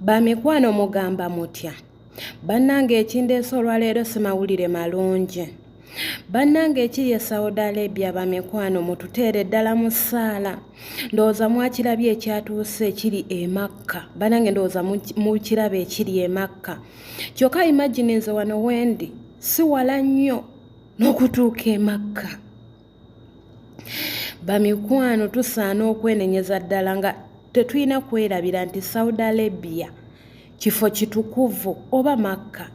Bamikwano mugamba mutya? Bannange ekindeese olwaleero si mawulire malungi. Bannange ekiri e Saudi Arabia bamikwano mututeere ddala mu ssaala. Ndowooza mwakirabye ekyatuuse ekiri e Makka. Bannange ndowooza mukiraba ekiri e Makka. Kyokka imagine nze wano wendi si wala nnyo n'okutuuka e Makka. bamikwano tusaana okwenenyeza ddala nga tetulina kwerabira nti saudi arabia kifo kitukuvu oba makka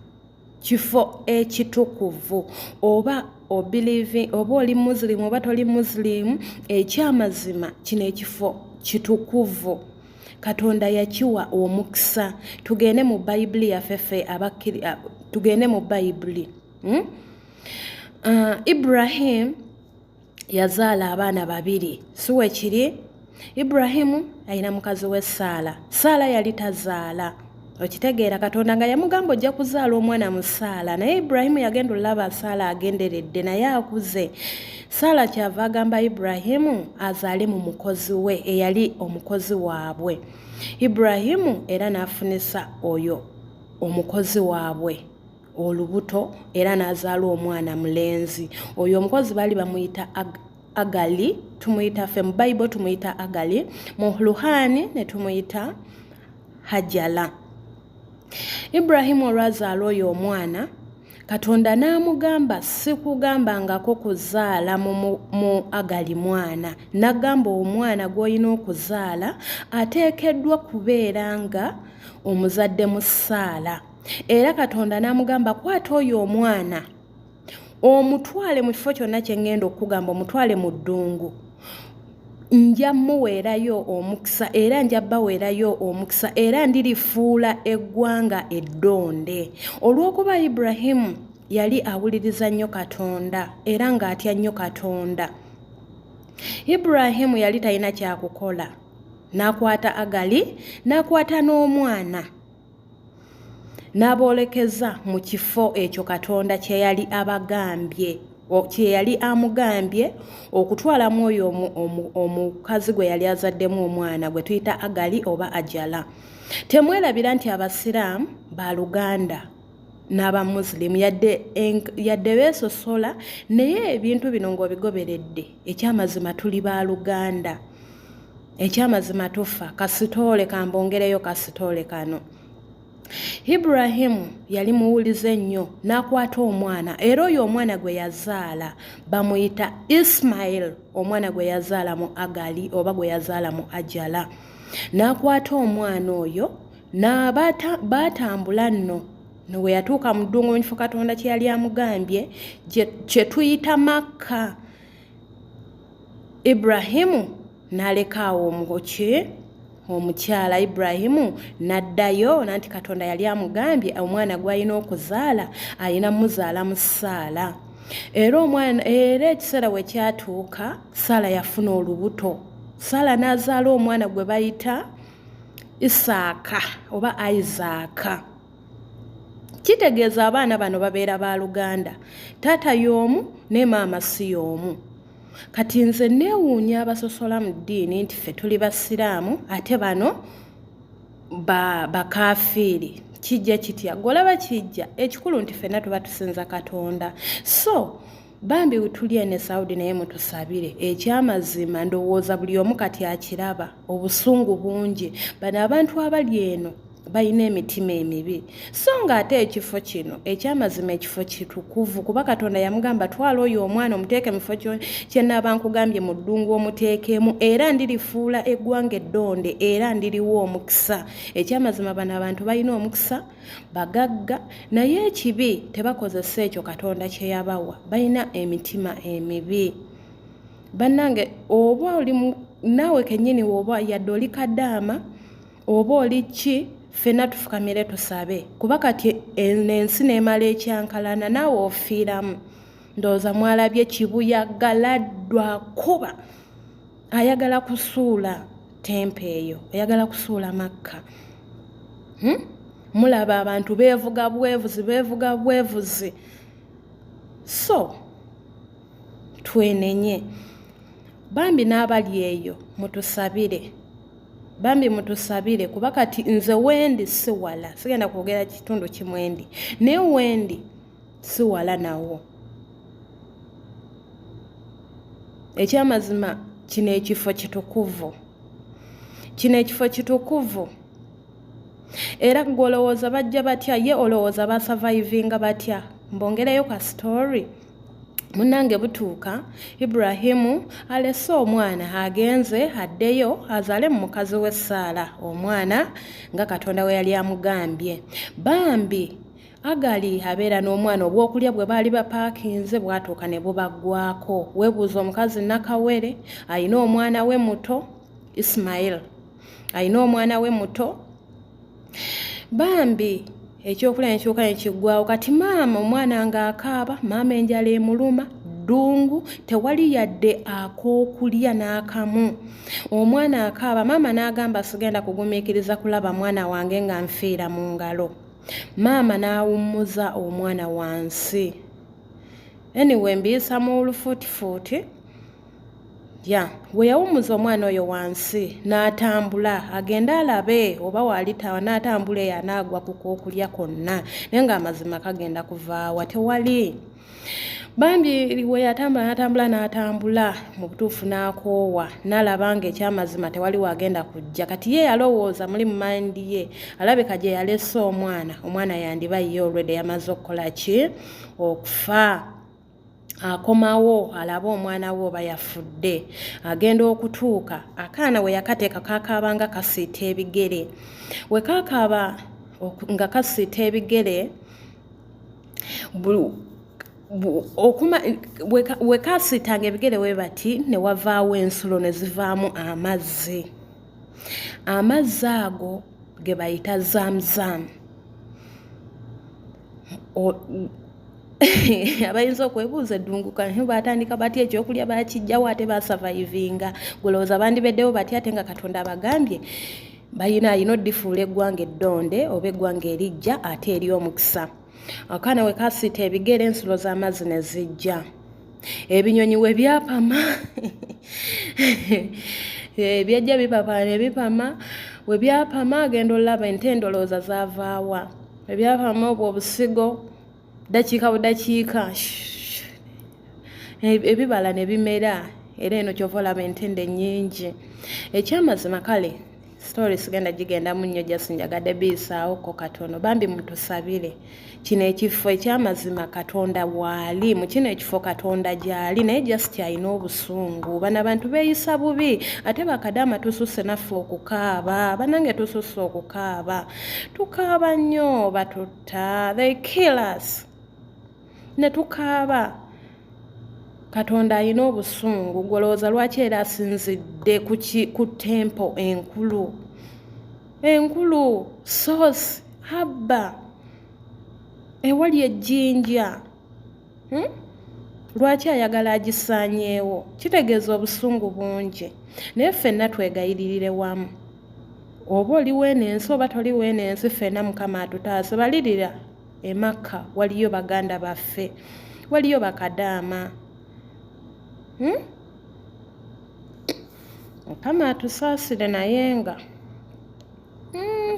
kifo ekitukuvu oba obilivi oba oli muslim oba toli muslim ekyamazima kino ekifo kitukuvu katonda yakiwa omukisa tugende mu bayibuli yaffe fe tugende mu bayibuli hmm? uh, ibrahimu yazaala abaana babiri siwe kiri ibrahimu alina mukazi we saala saala yali tazaala okitegeera katonda nga yamugamba ojja kuzaala omwana mu saala naye ibrahimu yagenda olulaba saala agenderedde naye akuze saala kyava agamba ibrahimu azaale mu mukozi we eyali omukozi waabwe ibrahimu era n'afunisa oyo omukozi waabwe olubuto era n'azaala omwana mulenzi oyo omukozi baali bamuyita agali tumuyita fe mu bayibo tumuyita agali mu luhaani ne tumuyita hajala ibrahimu olwazaala oyo omwana katonda n'amugamba sikugambangako kuzaala mu agali mwana nagamba omwana gw'olina okuzaala ateekeddwa kubeera nga omuzadde mu saala era katonda n'amugamba kwata oyo omwana omutwale mu kifo kyonna kye ŋŋenda okukugamba omutwale mu ddungu nja muweerayo omukisa era nja baweerayo omukisa era ndirifuula eggwanga eddonde olw'okuba iburahimu yali awuliriza nnyo katonda era ng'atya nnyo katonda iburahimu yali talina kyakukola n'akwata agali n'akwata n'omwana n'aboolekeza mu kifo ekyo katonda kye yali abagambye kye yali amugambye okutwala mu oyo omukazi gwe yali azaddemu omwana gwe tuyita agali oba ajala temwerabira nti abasiraamu ba luganda n'abamusilimu yadde beesosola naye ebintu bino ng'obigoberedde ekyamazima tuli ba luganda ekyamazima tufa kasitoole kambongereyo kasitoole kano iburahimu yali muwulize nnyo n'akwata omwana era oyo omwana gwe yazaala bamuyita ismail omwana gwe yazaala mu agali oba gwe yazaala mu ajala n'akwata omwana oyo n'abatambula nno no bwe yatuuka mu ddungu mu kifo katonda kye yali amugambye kye tuyita makka ibrahimu n'aleka awo omugoki omukyala ibrahimu n'addayo nanti katonda yali amugambye omwana gw'alina okuzaala alina muzaala mu saala era omwana era ekiseera we kyatuuka saala yafuna olubuto saala n'azaala omwana gwe bayita isaaka oba isaaka kitegeeza abaana bano babeera ba luganda taata y'omu ne maama si y'omu kati nze neewuunya abasosola mu ddiini nti ffe tuli basiraamu ate bano bakafiiri ba kijja kitya golaba kijja ekikulu nti fenna tuba tusinza katonda so bambi wetuli ene saudi naye mutusabire ekyamazima ndowooza buli omu kati akiraba obusungu bungi bano abantu abali eno balina emitima emibi so nga ate ekifo kino ekyamazima ekifo kitukuvu kuba katonda yamugamba twala oyo omwana omuteeke mufo kyenaaba nkugambye mu ddungu omuteekemu era ndirifuula eggwanga eddonde era ndiriwo omukisa ekyamazima bano abantu balina omukisa bagagga naye ekibi tebakozesa ekyo katonda kyeyabawa balina emitima emibi bannange oba oli naawe kennyini woba yadde oli kadaama oba oli ki ffena tufukamire tusabe kuba kati ensi neemala ekyankalana naawe ofiiramu ndowooza mwalabye kibuyaga laddwa kuba ayagala kusuula tempa eyo oyagala kusuula makka hmm? mulaba abantu beevuga bwevuzi beevuga bwevuzi so twenenye bambi n'abali eyo mutusabire bambi mutusabire kuba kati nze wendi siwala sigenda kwogera kitundu kimwendi naye wendi si wala nawo ekyamazima kino ekifo kitukuvu kino ekifo kitukuvu era gwe olowooza bajja batya ye olowooza basavaivinga batya mbongereyo ka story munange butuuka iburahimu alese omwana agenze addeyo azaale mu mukazi we saala omwana nga katonda we yali amugambye bambi Agali abeera n'omwana obwokulya bwe baali bapaakinze bwatuuka ne bubaggwako weebuuza omukazi nakawere alina omwana we muto ismail alina omwana we muto bambi ekyokulya nekyuka nekiggwawo kati maama omwana ng'akaaba maama enjala emuluma ddungu tewali yadde ak'okulya n'akamu omwana akaaba maama n'agamba sigenda kugumiikiriza kulaba mwana wange nga nfiira mu ngalo maama n'awummuza omwana wansi anyway mbiyisa mu lufuutifuuti ya we yawummuza omwana oyo wansi n'atambula agende alabe oba waalitawa n'atambula eyo anaagwa ku kwokulya kwonna naye ng'amazima kagenda kuvaawa tewali bambi we yatambula n'atambula n'atambula mu butuufu n'akoowa n'alaba nga ekyamazima tewali waagenda kujja kati ye yalowooza muli mu mayindi ye alabika gye yalese omwana omwana yandiba ye olwedde yamaze okukola ki okufa akomawo alaba omwana we oba yafudde agenda okutuuka akaana we yakateeka kakaabanga kasiita ebigere we kakaaba nga kasiita ebigere wekasiitanga ebigere we bati ne wavaawo ensulo ne zivaamu amazzi amazzi ago ge bayita zamzamu abayinza okwebuuza eddunguka baatandika batya ekyokulya bakijjawo ate basavayivinga gulowooza bandibeddewo batya ate nga katonda abagambye bayina yino difuula eggwanga eddonde oba eggwanga erijja ate eri omukisa akaana we kasiita ebigere ensulo z'amazzi ne zijja ebinyonyi we byapama eh, byajja bipapa ne bipama we byapama agenda olaba ente endolooza zavaawa ebyapama obwo obusigo dakiika budakiika ebibala ne bimera era eno kyova olaba entende nyingi ekyamazima kale story sigenda gigendamu nnyo just njagadde biyisaawoko katono bambi mutusabire kino ekifo ekyamazima katonda waali mu kino ekifo katonda gyali naye just alina obusungu bana bantu beeyisa bubi ate bakadaama tususse naffe okukaaba banange tususse okukaaba tukaaba nnyo batu Ta, they kill us ne tukaaba katonda alina obusungu gwolowooza lwaki era asinzidde ku tempo enkulu enkulu source habba ewali ejjinja hmm? lwaki ayagala agisaanyeewo kitegeeza obusungu bungi naye ffenna twegayiririre wamu oba oli weeno ensi oba toli weeno ensi ffena mukama atutaase balirira emakka waliyo baganda baffe waliyo bakadaama hmm? mukama atusaasire naye nga hmm.